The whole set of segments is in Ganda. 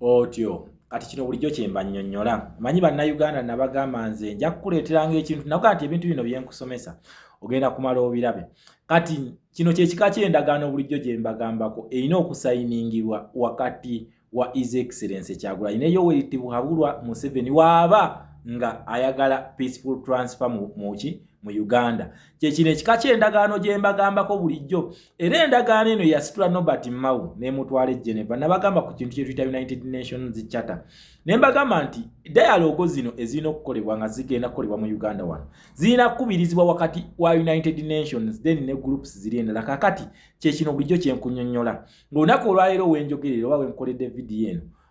otyo kati kino bulijjo kyemba nnyonnyola manyi bannayuganda nabagamba nze nja kukuleeteranga ekintu nakuga nti ebintu bino byenkusomesa ogenda kumala obirabe kati kino kyekika ky'endagaano bulijjo gye mbagambako erina okusayiningirwa wakati wa is excellence kyagulanyi ne yoweri tibuhabulwa museveni waaba nga ayagala peaceful transfer muki mu uganda kyekino ekika kyendagaano gyembagambako bulijjo era endagaano eno yasitula nobert mau nemutwala e geneva nabagamba ku kintu kyetuyita united nations charter nembagamba nti dialogo zino ezirina okukolebwa nga zigenda kukolebwa mu uganda wano zirina kukubirizibwa wakati wa united nations then ne groups ziri endala kakati kyekino bulijjo kyenkunyonyola ngaolunaku olwaleero wenjogerera oba wenkoledde vidiyo eno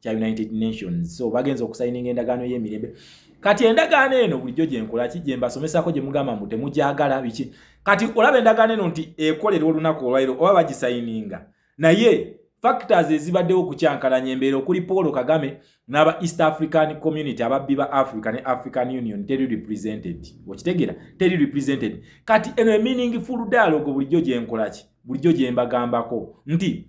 kya United Nations so bagenze okusayininga endagaano y'emirembe kati endagaano eno bulijjo gyenkola ki gyembasomesako gye mugamba mbu temugyagala biki kati olaba endagaano eno nti ekolerwa olunaku olwairo oba bagisayininga naye factors ezibaddewo okukyankalanya embeera okuli paul kagame n'aba east african community ababbi ba africa ne african union teri represented okitegeera teri represented kati eno eminingi full dialogue bulijjo gyenkola ki bulijjo gyembagambako nti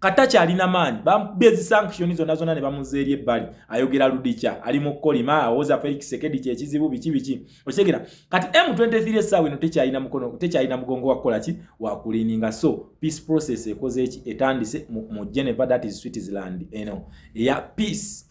kata kyalina maanyi bamubbye ezisankishoni zonna zonna ne bamuza eri ebbali ayogera ludikya ali mu kukolima awoza felix sekedi kyekizibu biki biki okitegera kati m23 essaawa eno tekyalina mukono tekyalina mugongo wakukola ki wakulininga so peace process ekoze eki etandise mu geneva that is switzerland eno eya peace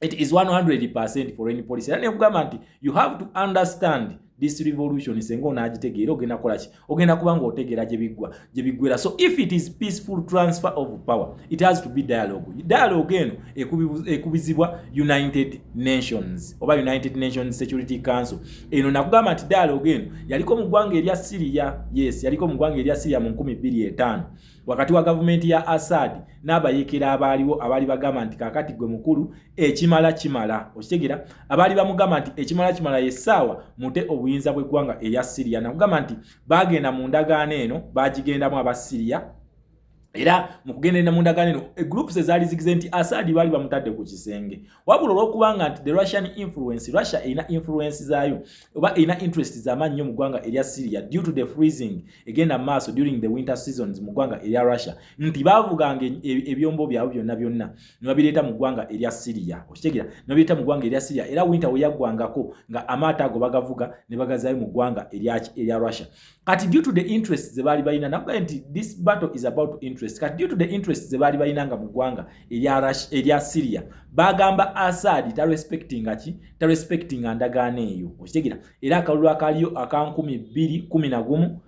it is 100% foreign policy era nekugamba nti you have to understand this revolution senga onagitegeera ogenda kukola ki ogenda kuba nga otegeera gyebiggwa gyebiggwera so if it is peaceful transfer of power it has to be dialogue dialogue eno ekubizibwa united nations oba united nations security council eno nakugamba nti dialogue eno yaliko mu ggwanga erya syria yes yaliko mu ggwanga erya syria mu 25 wakati wa gavumenti ya Assad n'abayekera abaaliwo abaali bagamba nti kaakati gwe mukulu ekimala kimala okitegera abaali bamugamba nti ekimala kimala yessaawa mute obuyinza bw'eggwanga erya siriya nakugamba nti baagenda mu ndagaano eno baagigendamu aba siriya era mu kugenderera mu ndagaano eno egroups ezaali zigize nti Assad baali bamutadde ku kisenge wabula olwokuba nga nti the russian influence russia erina influence zaayo oba erina interest zamaanyi nnyo mu ggwanga erya syria due to the freezing egenda mu maaso during the winter seasons mu ggwanga erya russia nti baavuganga e, e, ebyombo byabwe byonna byonna ne babireeta mu ggwanga erya syria okitegera ne babireeta mu ggwanga erya syria era winter weyaggwangako nga amaato ago bagavuga ne bagazaayo mu ggwanga erya russia kati due to the interest ze baali balina nakugaye nti this battle is about interest kati due to the interest ze baali balina nga mu ggwanga erya syria bagamba asadi tarespectinga ki tarespectinga ndagaano eyo okitegera era akalulu akaliyo aka nkumi bbiri kumi na gumu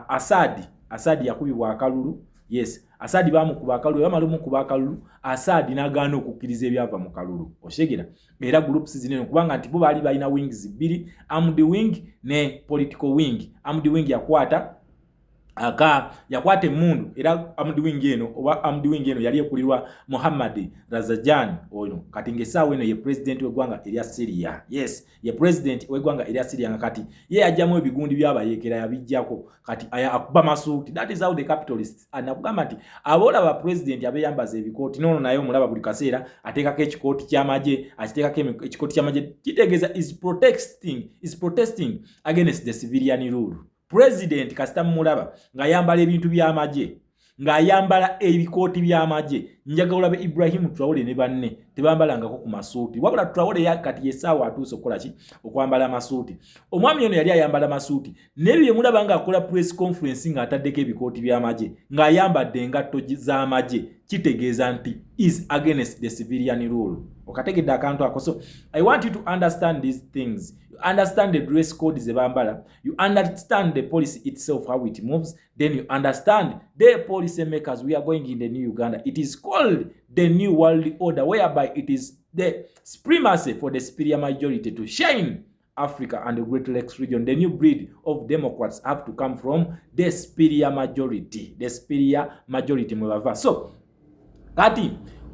asadi asadi yakubibwa akalulu yes asadi bamukuba akalulu bamala omukuba akalulu asadi nagaana okukkiriza ebyava mu kalulu okitegera era groups zinene kubanga nti bo baali balina wings bbiri amd wing ne political wing amd wing yakwata aka yakwata emundu era amd wing eno oba amd wing eno yali ekulirwa muhammad razajan ono kati ngaesaawa eno ye president wegwanga erya syria yes ye president wegwanga erya syria nga kati ye yajjamu ebigundi byabayekera yabijjako kati aya akuba masuuti that is how the capitalists anakugamba ah, nti aboola ba pulezidenti abeyambaza ebikooti noono naye omulaba buli kaseera ateekako ekikooti ky'amagye akiteekako ekikooti ky'amagye kitegeeza is protesting is protesting against the civilian rule pulezidenti kasita mumulaba ng'ayambala ebintu by'amagye ng'ayambala ebikooti by'amagye njaga olabe ibrahimu turawole ne banne tebambalangako ku masuuti wabula turawole kati yesaawa atuuse okukola ki okwambala amasuuti omwami ono yali ayambala masuuti naye byemulaba nga akola press conference nga ataddeko ebikooti by'amagye ng'ayambadde engatto z'amagye kitegeeza nti is against the civilian rule okategedde akantu ako so i want you to understand these things you understand the dress code ze bambala you understand the policy itself how it moves then you understand the policy makers we are going in the new uganda it is called the new world order whereby it is the supremacy for the superior majority to shine Africa and the Great Lakes region. The new breed of Democrats have to come from the superior majority. The superior majority mwebava. So, kati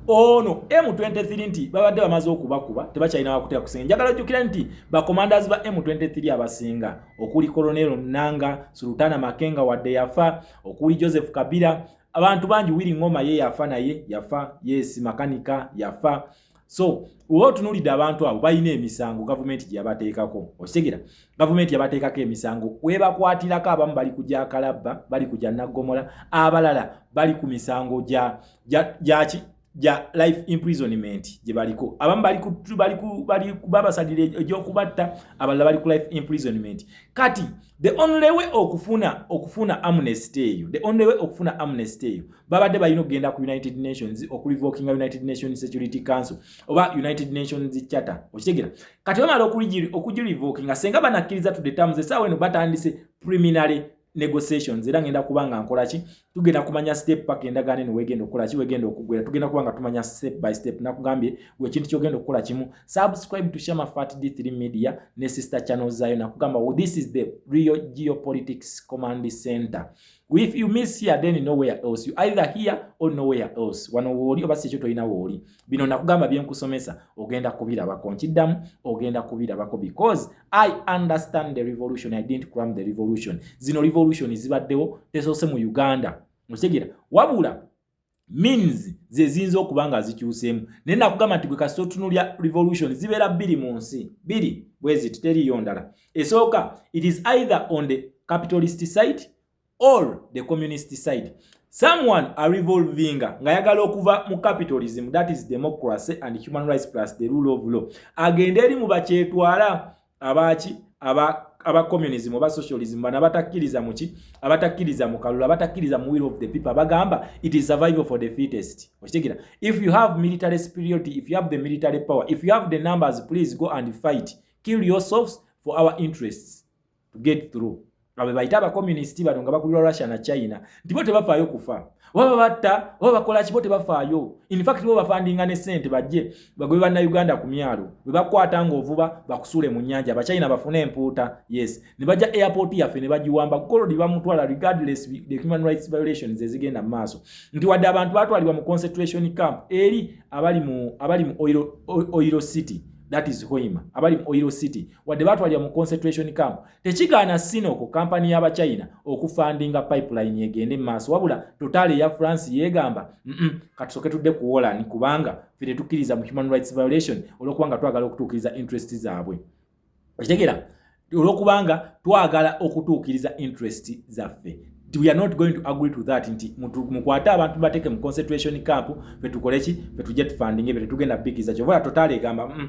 ono M23 nti babadde bamaze okubakuba tebakyalina wakutya kusinga njagala ojjukira nti bakomandas ba M23 abasinga okuli Colonel Nanga, Sultana Makenga wadde yafa, okuli Joseph Kabila, abantu bangi Willy Ngoma ye yafa naye yafa, yes makanika yafa, so oba otunulidde abantu abo balina emisango gavumenti gyeyabateekako okitegera gavumenti yabateekako emisango webakwatirako abamu bali kuja kalabba bali kuja naggomola abalala bali ku misango gyaki gya life imprisonment gye baliko abamu balibabasalira egyokubatta abalala bali ku life imprisonment kati the only way okufuna okufuna amnesty eyo the only way okufuna amnesty eyo babadde balina okugenda ku united nations okulivokinga united nations security council oba united nations charter okitegera kati bamala okugilivokinga senga banakkiriza to the terms esaawa eno batandise preliminary negotiations era ngenda kuba nga nkola ki tugenda kumanya step paka endagaano eno wegenda okukola ki wegenda okugwera tugenda kuba nga tumanya step by step nakugambye wekintu kyogenda okukola kimu subscribe to shama fat d3 media ne sister channel zayo nakugamba well, oh, this is the real geopolitics command center if you miss here then nowhere else you either here or nowhere else wano wooli oba si ekyo tolina wooli bino nakugamba byenkusomesa ogenda kubirabako nkiddamu ogenda kubirabako because i understand the revolution i didn't cram the revolution zino revolution zibaddewo tesoose mu uganda okitegera wabula means zeziyinza okuba nga zikyuseemu naye nakugamba nti gwe kasita otunulya revolution zibeera bbiri mu nsi bbiri bweziti teriyo ndala esooka it is either on the capitalist site or the communist side someone a revolvinga ngayagala okuva mu capitalism that is democracy and human rights plus the rule of law agenda eri mu bakyetwala abaaki aba aba communism oba socialism bana batakkiriza muki abatakkiriza mu kalulu abatakkiriza mu will of the people abagamba it is survival for the fittest okitegera if you have military superiority if you have the military power if you have the numbers please go and fight kill yourselves for our interests to get through abo bebayita abakomunisiti bano nga bakulirwa russia na china nti bo tebafaayo kufa oba babatta oba bakola kibo tebafaayo infact bo bafandinga ne sente bajje bagobe bannauganda ku myalo bwe bakwata ng'ovuba bakusuule mu nyanja abachina bafune empuuta yes ne bajja airport yaffe ne bagiwamba golodi bamutwala regardless the human rights violations ezigenda mu maaso nti wadde abantu batwalibwa mu concentration camp eri abali mu abali mu oil, oil city that is hoima abali mu oil city wadde batwalira mu concentration camp tekigaana sinoko kampani y'abachina okufandinga pipeline egende mu maaso wabula totaali eya france yeegamba mm katusoke tudde ku wolan kubanga fe tetukkiriza mu human rights violation olwokubanga twagala okutuukiriza interest zaabwe okitegeera olwokubanga twagala okutuukiriza interest zaffe we are not going to agree to that nti mukwate abantu bateke mu concentration camp fetukoleki fetujja tufandinge fe tetugenda bikiriza kyova totaali egamba mm -mm.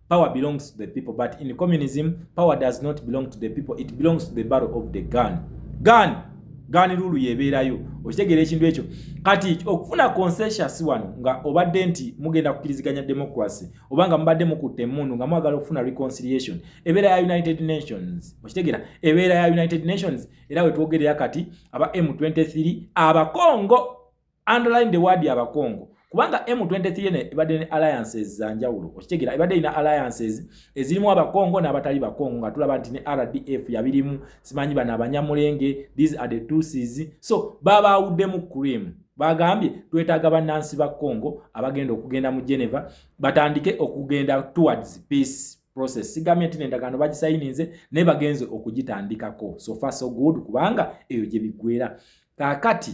Power belongs to the people, but in communism, power does not belong to the people. It belongs to the barrel of the gun. Gun! Gun rule yebeerayo. Okitegeera ekintu ekyo. Kati okufuna consensus wano nga obadde nti mugenda kukiriziganya democracy oba nga mubadde mukutte emmundu nga mwagala okufuna reconciliation. Ebeera ya United Nations. Okitegeera ebeera ya United Nations era wetwogerera kati aba M23 abakongo underline the word abakongo kubanga M23 ne ebadde ne alliances za njawulo okitegera ebadde ina alliances ezirimu abakongo n'abatali bakongo nga tulaba nti ne RDF yabirimu simanyi bana abanyamulenge these are the two seas so baba awudde mu cream bagambye twetaaga bannansi ba congo abagenda okugenda mu geneva batandike okugenda towards peace process sigambye nti nendagaano bagisayininze naye bagenze okugitandikako so far so good kubanga eyo gye biggwera kakati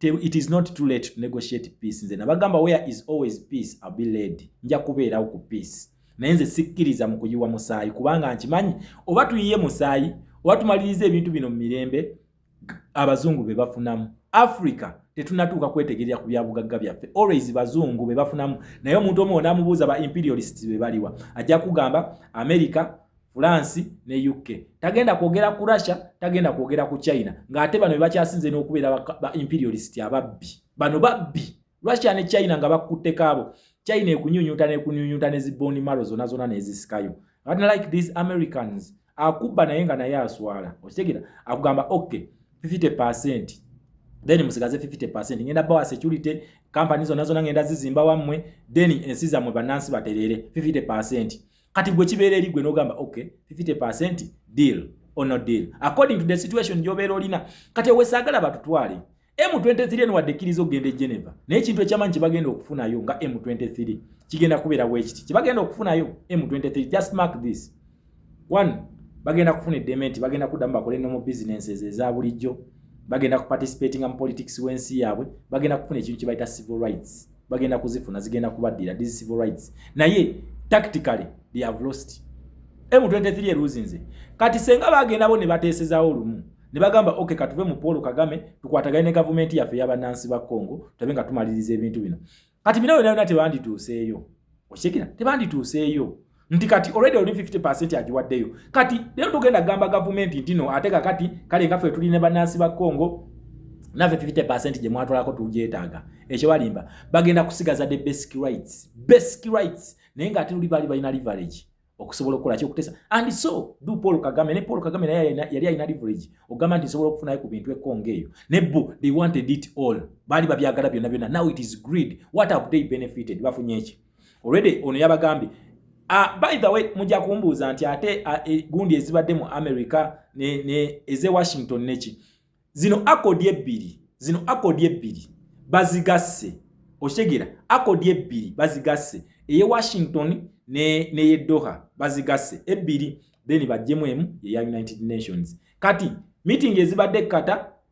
it is not too late to negotiate peace nze nabagamba where is always peace I'll be led nja kubeerawo ku peace naye nze sikkiriza mu kuyiwa musaayi kubanga nkimanyi oba tuyiye musaayi oba tumaliriza ebintu bino mu mirembe abazungu be bafunamu africa tetunatuuka kwetegerera ku byabugagga byaffe always bazungu be bafunamu naye omuntu omu onamubuuza ba imperialist be baliwa ajja kugamba america France ne UK. Tagenda kwogera ku Russia, tagenda kwogera ku China. Nga ate bano bebakyasinze n'okubeera ba imperialist ababbi. Bano babbi. Russia ne China nga bakutte kaabo. China ekunyunyuta ne kunyunyuta ne ziboni maro zona zona ne zisikayo. But like these Americans, akubba naye nga naye aswala. Okitegera? Akugamba okay, 50% then musigaze 50% ngenda bawa security companies zona zona ngenda zizimba wamwe then ensi zamwe banansi baterere 50% kati gwe kibeera eri gwe n'ogamba ok 50 percent deal or no deal according to the situation gyobeera olina kati ewesaagala batutwale m23 eno wadde ekkiriza okugenda e geneva naye ekintu ekyamanyi kyebagenda okufunayo nga m23 kigenda kubeera bwekiti kyebagenda okufunayo m23 just mark this one bagenda kufuna eddembe nti bagenda kuddamu bakole nomu businesses eza bulijjo bagenda kuparticipatinga mu politics w'ensi yaabwe bagenda kufuna ekintu kyebayita civil rights bagenda kuzifuna zigenda kubaddira these civil rights naye tactically they have lost m23 eruzinze kati senga bagenda bo ne bateesezawo olumu ne bagamba ok katuve mu paul kagame tukwatagane ne gavumenti yaffe yabanansi ba congo tulabe nga tumaliriza ebintu bino kati bino byona byona tebandituuseeyo okitegera tebandituuseeyo nti kati already oli 50% agiwaddeyo kati lero tugenda gamba gavumenti ntino ate kakati kale nga ffe tuli ne bannansi ba congo naffe 50% gye mwatwalako tugyetaaga ekyo balimba bagenda kusigaza the basic rights basic rights naye nga ate luli baali balina leverage okusobola okukola kyokutesa and so du paul kagame ne paul kagame naye yali alina leverage ogamba nti nsobola okufunayo ku bintu ekonga eyo ne bo they wanted it all baali babyagala byonna byonna now it is greed what have they benefited bafunye eki already ono yabagambye Uh, by the way mujja kumbuuza nti ate uh, e, gundi ezibadde mu america ne, ne eze washington neki zino akodi ebbiri zino akodi ebbiri bazigasse okitegera akodi ebbiri bazigasse eye washington ne, neye doha bazigasse ebbiri then bajjemu emu eya united nations kati meeting ezibadde kata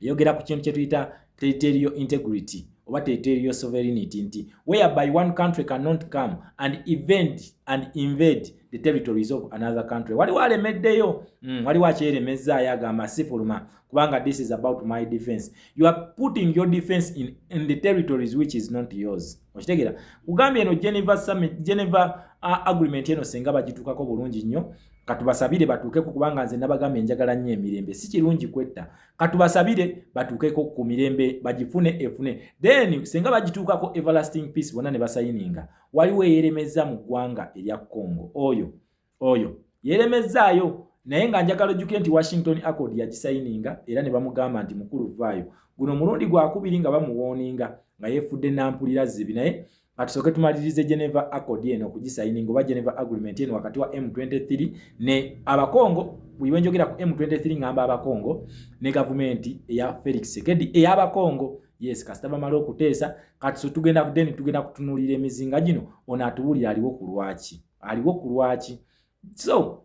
yogera ku kintu kyetuyita territorial integrity oba territorial sovereignty nti whereby one country cannot come and event and invade the territories of another country waliwo alemeddeyo mm, waliwo akyeremezzaayo agamba sifuluma kubanga this is about my defense you are putting your defense in, in the territories which is not yours okitegera kugambye eno geneva summit geneva uh, agreement eno senga bagituukako bulungi nnyo katubasabire batuukeko kubanga nze nabagambye njagala nnyo emirembe si kirungi kwetta katubasabire batuukeko ku mirembe bagifune efune then singa bagituukako everlasting peace bonna ne basayininga waliwo eyeremezza mu ggwanga erya congo oyo oyo yeremezzaayo naye nga njagala ojjuke nti washington accord yagisayininga era ne bamugamba nti mukulu vaayo guno omulundi gwakubiri nga bamuwooninga nga yefudde nampulira zibi naye Katusooke tumalirize Geneva Accord eno okugisayininga oba Geneva Agreement eno wakati wa M23 ne abakongo bwe njogera ku M23 ngamba abakongo ne gavumenti eya Felix Tshisekedi eyabakongo yes kasita bamala okuteesa kati so tugenda kudeni tugenda kutunulira emizinga gino ono atuwulira aliwo ku lwaki aliwo ku lwaki so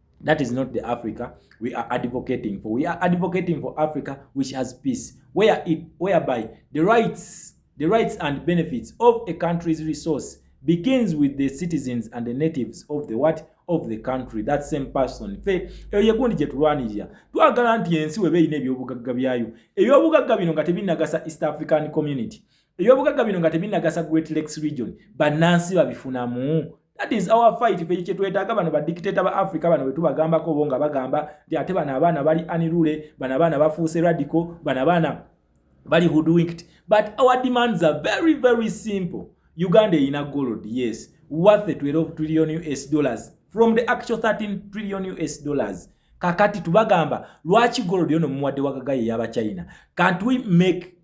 That is not the Africa we are advocating for. We are advocating for Africa which has peace, where it, whereby the rights, the rights and benefits of a country's resource begins with the citizens and the natives of the what of the country that same person fe eyo yekundi gye tulwanirira twagala nti ensi weba erina ebyobugagga byayo ebyobugagga bino nga tebinagasa east african community ebyobugagga bino nga tebinagasa great lakes region bannansi babifunamu that is our fight fe kyetwetaaga bano badikiteta ba africa bano wetubagambako bo nga bagamba ti ate bano abaana bali anirule bano abaana bafuuse radical bano abaana bali hoodwinked but our demands are very very simple uganda erina gold yes worth 12 trillion us dollars from the actual 13 trillion us dollars kakati tubagamba lwaki gold yono mumuwadde wagagaye yaba china can't we make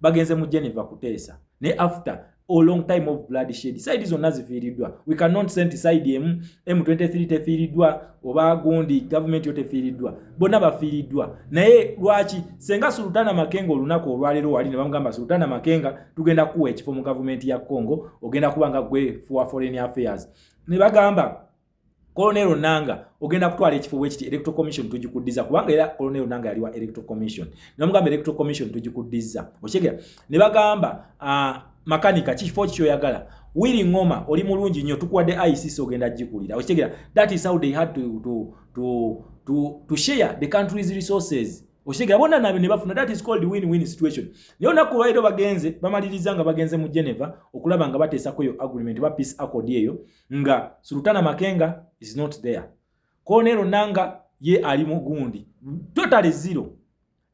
bagenze mu Geneva kuteesa ne after a long time of blood shed side zonna zifiiriddwa we cannot send side emu M23 tefiiriddwa oba gundi government yo tefiiriddwa bonna bafiiriddwa naye lwaki senga Sultana Makenga olunaku olwaleero wali ne bamugamba Sultana Makenga tugenda kuwa ekifo mu government ya Congo ogenda kuba nga gwe for foreign affairs ne bagamba Colonel Onanga ogenda kutwala ekifo wekiti Electoral Commission tujikuddiza kubanga era Colonel Onanga yali wa Electoral Commission. Namugamba Electoral Commission tujikuddiza. Okitegera? Ne bagamba uh, makanika kifo kyo yagala. Willy Ngoma oli mulungi nnyo tukuwadde ICC ogenda jikulira. Okitegera? That is how they had to to to to, to share the country's resources. Okitegera? Bona nabe ne bafuna that is called win-win situation. Naye olunaku lwaliro bagenze bamaliriza nga bagenze mu Geneva okulaba nga bateesako eyo agreement ba peace accord eyo nga Sultana Makenga is not there. Colonel Nanga ye ali mugundi. Totally zero.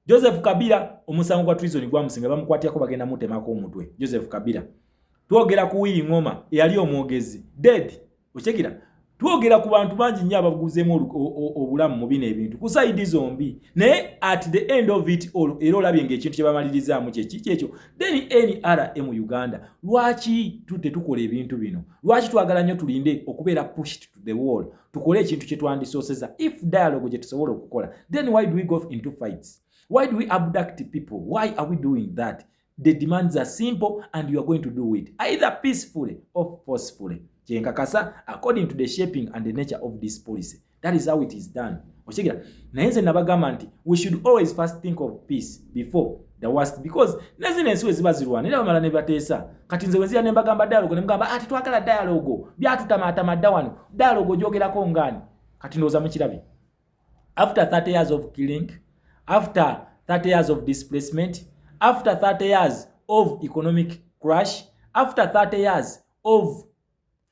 Joseph Kabila omusango gwa treason gwa musinga bamukwatya ko bagenda mutema ko omutwe. Joseph Kabila. Twogera ku Willy Ngoma eyali omwogezi. Dead. Ochegira. Twogera ku bantu bangi nnyo abaguzemu obulamu mu bino ebintu. Ku side zombi. Naye at the end of it all era olabye ng'ekintu kye bamalirizaamu kye kiki ekyo. then nrm uganda lwaki tudde tukola ebintu bino lwaki twagala nnyo tulinde okubeera pushed to the wall tukole ekintu kye twandisooseza if dialogue gye tusobola okukola then why do we go into fights why do we abduct people why are we doing that the demands are simple and you are going to do it either peacefully or forcefully kyenkakasa according to the shaping and the nature of this policy that is how it is done okitegera naye nze nabagamba nti we should always first think of peace before the worst because nezino ensi weziba zirwana era bamala nebateesa kati nze wenzira nembagamba dialogo nemugamba ati ah, twagala dialogo byatutamaatama dda wano dialogo ogyogerako ngaani kati ndowooza mukirabye after 30 years of killing after 30 years of displacement after 30 years of economic crash after 30 years of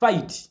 fight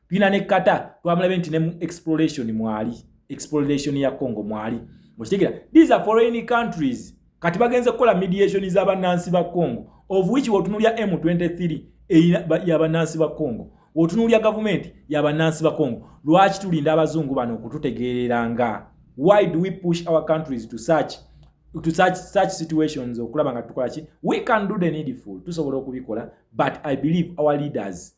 tulina ne kata twamulabe nti ne mu exploration mwali exploration ya congo mwali okitegera these are foreign countries kati bagenze kukola mediation za banansi ba congo of which wotunulya m23 ya banansi ba congo wotunulya gavumenti ya banansi ba congo lwaki tulinda abazungu bano okututegeerera nga why do we push our countries to such to such such situations okulaba nga tukola ki we can do the needful tusobola okubikola but i believe our leaders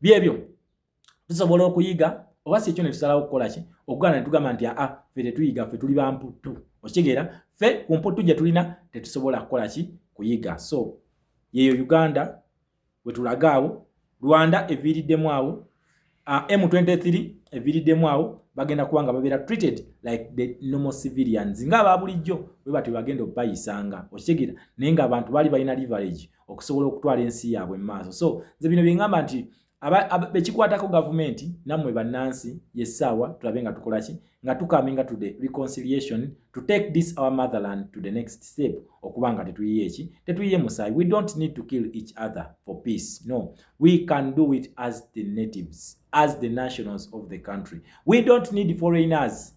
byebyo tusobola okuyiga oba si ekyo ne tusalawo okukola ki okugaana ne tugamba nti aa ffe tetuyiga ffe tuli bamputtu okitegeera ffe ku mputtu gye tulina tetusobola kukola ki kuyiga so yeyo uganda wetulaga awo rwanda eviiriddemu awo ah, m23 eviiriddemu awo bagenda kuba nga babeera treated like the normal civilians nga aba bulijjo bwe batyo bagenda okubayisanga okitegeera naye ngaabantu baali balina leverage okusobola okutwala ensi yaabwe mu maaso so nze bino byeŋamba nti bekikwatako gavumenti nammwe bannansi yessaawa tulabe nga tukola ki nga tukaminga to the reconciliation to take this our motherland to the next step okuba nga tetuyiye eki tetuyiye musaayi we don't need to kill each other for peace no we can do it as the natives as the nationals of the country we don't need foreigners